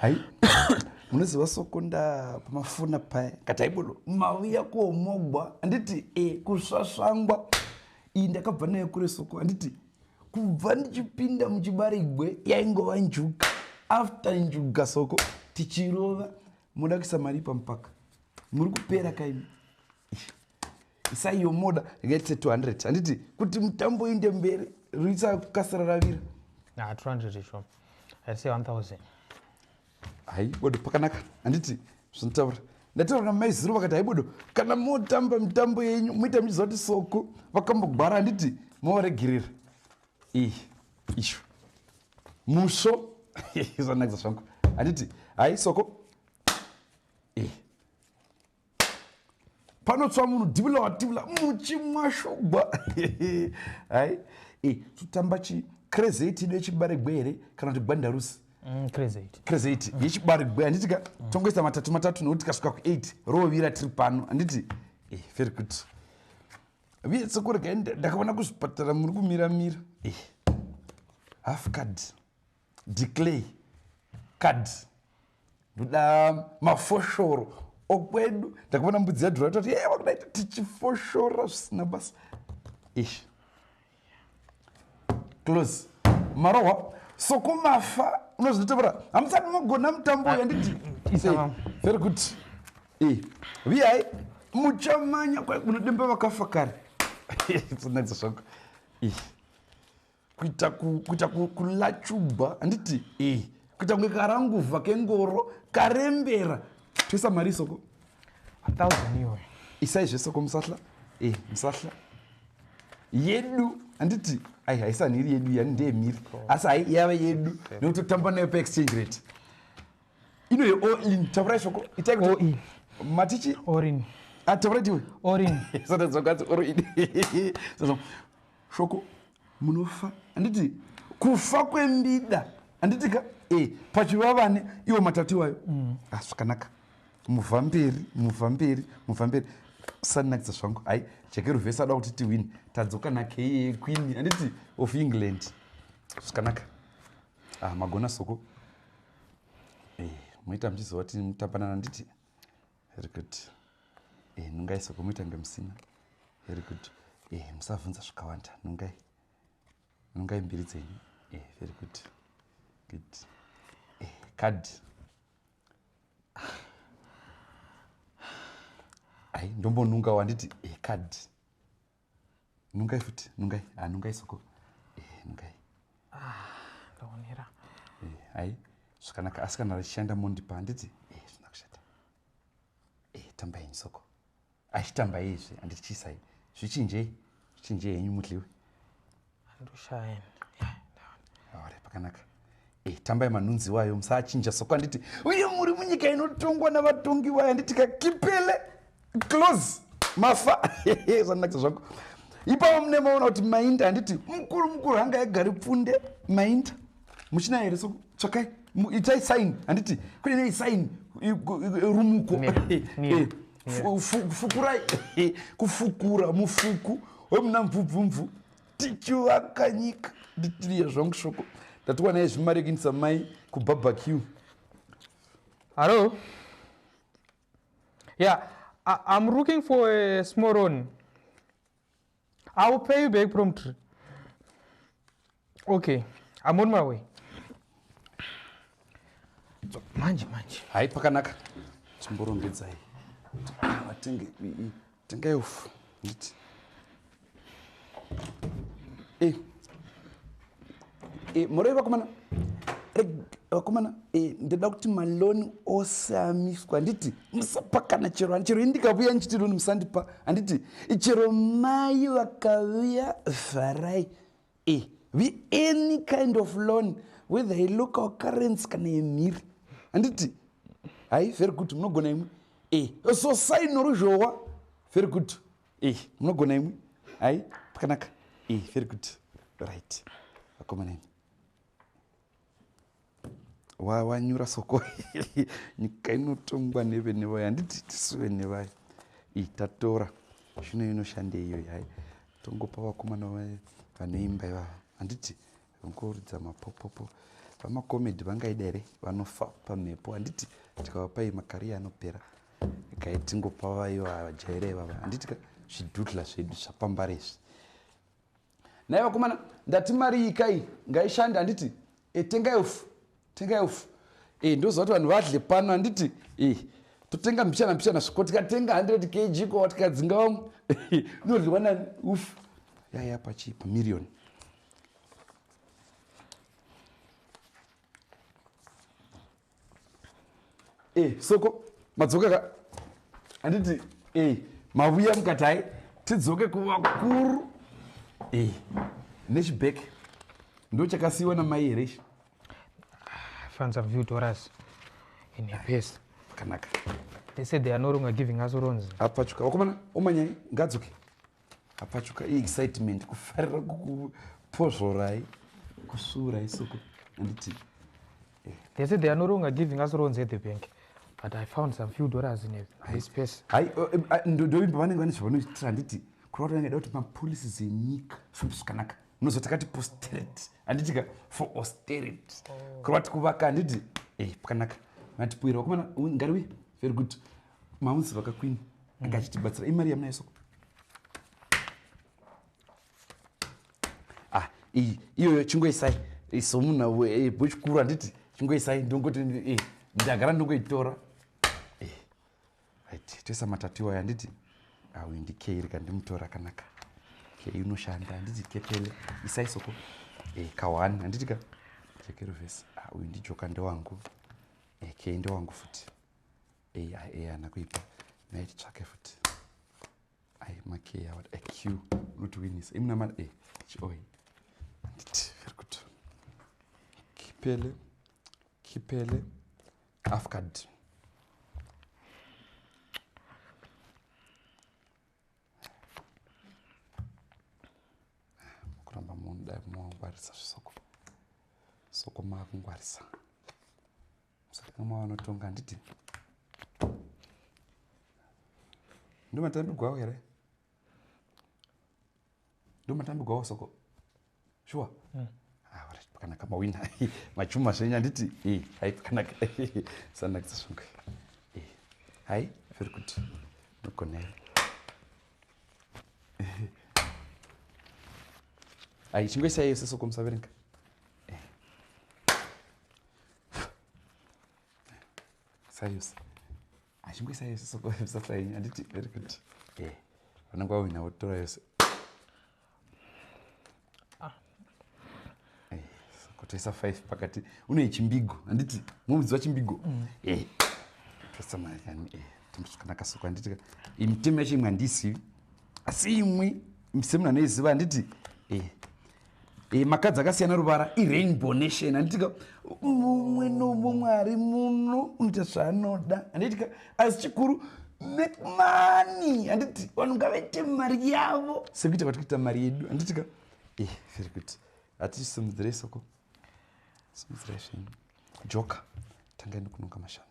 hai munoziva sokunda pamafona paya kataibulo mauya kuomogwa handiti e kusvasvangwa iyi ndakabva nayo kure soko handiti kubva ndichipinda muchibarigwe yaingova njuga after njuga soko tichirova moda kuisa mari pamupaka muri kupera kaimi isai yomoda rikaitise 200 handiti kuti mutambo inde mberi ruisa kukasira ravira na 200 sho aise 1000 hai bodo pakanaka handiti zvinotaura ndataura namaizuru vakati hai bodo kana motamba mitambo yenyu moita muchiziva kuti soko vakambogwara handiti movaregerera iyi isho musvo zvanakisa zvangu handiti hai soko panotswa munhu divula wadivula muchimwashogwa hai e totamba chi crezate ido yechibaregwe here kana kuti gwandarusi mm, crezate mm. yechibaregwe handiti ka mm. tongoisa matatu matatu nokuti kasvika ku8 rovira tiri pano handiti eh, very good viye sokurega ndakaona kuzvipatara muri kumiramira eh, half card declay card ndoda mafoshoro okwedu ndakavona mbudzi yadhura toti e wakudaita tichifoshora zvisina basa ish close marohwa sokumafa unozvitevera hamusati mogona mutambo uyu anditi very good e viyai muchamanya kwaunodemba vakafa kare tsinakisa zvako ish kuita kuita kulachuba handiti e kuita kunge karanguva kengoro karembera toisa mari isoko isai zvesoko musahla e musahla yedu handiti ai haisanhiri yedu yani ndeye miri asi hai yave yedu nekuti totamba nayo paexchange rate ino ye oin tavura ishoko itai kuti matichi orin atavura ah, tiwe orin sata dzokazi orin shoko munofa handiti kufa kwembida handiti ka e pachivavane iwo matatu iwayo mm. ah, zvakanaka mm. muvha mberi muvha mberi muvha mberi sanakidza zvangu hai jeke ruvhesi ada kuti tiwini tadzoka nakee queen handiti of england zvakanaka ah, magona soko e, eh, moita muchizova timutambanana handiti very good eh, nungai sokomuita kunge musina very good eh, musavhunza zvakawanda nungai nungai mbiri dzenyu eh, very good good eh, card ai ndombonunga wanditi eh, card nungai futi nungai ah, nungai soko eh, nungai ah, ndaonera eh, hai zvakanaka asi kana richishanda mondipa handiti eh, zvina kushata eh, tambai nyi soko achitambaizve handiti chisai zvichinjei zvichinjei henyu mudliwe pakanaka eh, tambai manhunzi wayo musaachinja soko anditi uye muri munyika inotongwa navatongi wayo anditi kakipele close mafa zvanakisa zvako ipapo mune maona kuti mainda handiti mukuru mukuru hanga yagari pfunde mainda muchina here so tsvakai itai saini handiti kune nei saini rumuko kufukura kufukura mufuku wemuna mvubvumvu tichivaka nyika nditiriya zvangu shoko ndatiwana ye zvimarekinisa mai kubarbeque hallo ya yeah, i'm looking for a small one I will pay you back promptly. Okay, I'm on my way. Manje, manje. Hai, pakanaka. Chimborongedzai. Vatenge, tengai ufu. Nditi. Eh. e, muroi vakomana vakomana e, ndoda kuti maloni ose amiswa handiti musapa kana chero ani chero i ndikavuya ndichiti loni musandipa handiti chero mai vakavuya vharai e, vi any kind of loan whether i look our currency kana yemhiri handiti hai very good munogona imwe e, so saino ruzhowa very good Ih, munogona imwi. Hai, pakanaka. Ih, very good. Right. Vakomana imwi. Wa wanyura soko. Nyika inotongwa nevene vayo. Handiti tisu vene vayo. Ih, tatora. Zvino inoshandei iyoyi hai. Tongopa vakomana vayo vane imba ivava. Handiti Vangoridza mapopopo. Vamacomedy vangaida here vanofa pamhepo handiti tikavapai makariya anopera gai tingopa vayo vajaira ivava handiti ka zvidudla zvedu zvapambara izvi nai vakomana ndati mari iyi kai ngaishande handiti e, tengai ufu tengai ufu e, ndoziva kuti vanhu vadle pano handiti e, totenga mbichana mbichana sviko tikatenga 100 kg ko tikadzinga vamwe inoryiwa nani ufu yaya pachi pamirioni e eh, soko madzoka ka handiti e eh, mavuya mukatai tidzoke kuvakuru e eh, nechibek ndo chakasiyiwa namai here ichi fans have viewed us in a pace kanaka they said they are no longer giving us runs apachuka wakomana omanyai ngadzoke apachuka iexcitement kufarira kukupozvorai kusvuurai soko anditi eh. they said they are no longer giving us loans at the bank but i found some few dollars in this space hai eh, eh, ah, ndoimba vanenge vane zvavanoitira handiti kurava kuti vangada kuti mapolisi dzenyika famba zvakanaka munozoti kati posterity handiti ka for austerity oh. kurava kuti kuvaka handiti e pakanaka matipuira wakomana ngari uye very good mamuzi vakakwini mm. anga achitibatsira imari yamunayo soko ah iyi iyoyo chingoisai somunhu eh, bwechikuru handiti chingoisai ndongoti eh, ndagara ndongoitora eh, right toisa matatu iwayo handiti awi ndikeiri kandimutora akanaka kei unoshanda handiti kepele isai soko eh, kawani handiti ka chekerovhesi ah, uyu ndijoka ndewangu eh, kei ndewangu futi eyi ai eyi ana kuipa nai titsvake futi ai makey awa aq unotiwinisa imuna mari e chioi anditi very good kipele kipele afcard kuramba munhu dai mumawangwarisa zvisoko soko maakungwarisa so, mama vanotonga handiti ndomatambigwawo here ndomatambigwawo soko shuwa hmm. ah, pakanaka mawina machuma zvenyu handiti eh, hai pakanaka sanakisa zvonge eh, hai very good nogona here hai chingoisai yese soko musaverenga sayusi achinge sayusi sokosasaini anditi very good eh, vanenge wawina wotora yose ah. eh, kutoisa five pakati une chimbigo handiti mumudzi wachimbigo mm. eh, toisa mari yani tombosvakanaka soko handiti imitemo yacho imwe handisivi asi imwe semunhu anoiziva handiti e, makadzi akasiyana ruvara irainbow nation anditika mumwe nomumwari muno unoita zvaanoda anditika asi chikuru make money handiti vanhu ngavaite mari yavo sekuita kwati kuita mari yedu handitika e very good hatisimudzirei soko simudzirai zvenyu joka tangai nekunonga mashanu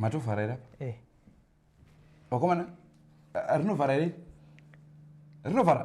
matovhara here apa eh. vakomana rinovhara here rinovhara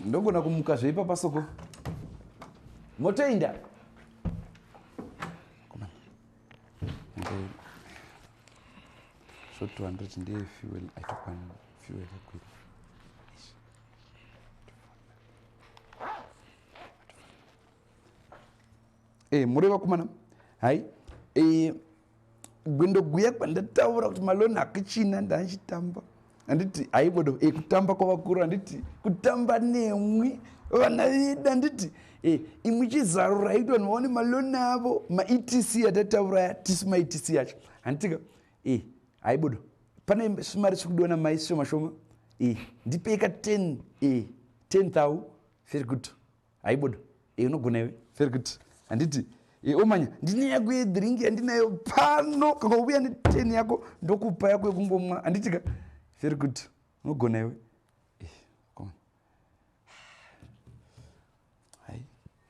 ndogona kumuka zveipapa soko motoinda short 200 ndiye fuel aitokwana fuel yakwira e eh, mureva kumana hai e eh, gwendoguya kwandataura kuti maloni hakuchina ndachitamba handiti haibodo e eh, kutamba kwavakuru handiti kutamba nemwi vana vedu handiti e imwi chizarura iti vanhu vaone maloni avo maetc atataura ya tisu maetc acho handitika e eh, haibodo pane svimari sikudiwa namai shoma shoma e ndipei ka 10 e 10 thou very good haibodo e unogona iwe very good handiti e omanya ndine yako yedrink yandinayo pano kakauya neten yako ndokupa yako yekungomwa handiti ka very good unogona iwe hai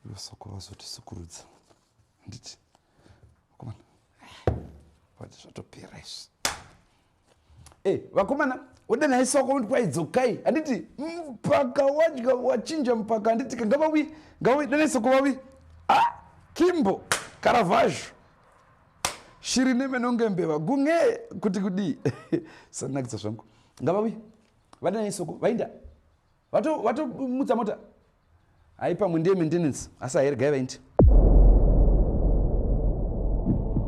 ivo soko vazotisukurudza handiti komana vati zvatopera izvi Eh, vakomana oda naye soko kuti kwaidzokai handiti mpaka wadya wachinja mpaka handiti ka ngavawi ngavawi danai soko vawi a kimbo karavhazho shiri nemenonge mbeva gunge kuti kudii sanakisa zvangu ngavawi vadanai soko vainda vatomutsa mota haipamwe ndiye maintenance asi ahergai vaindi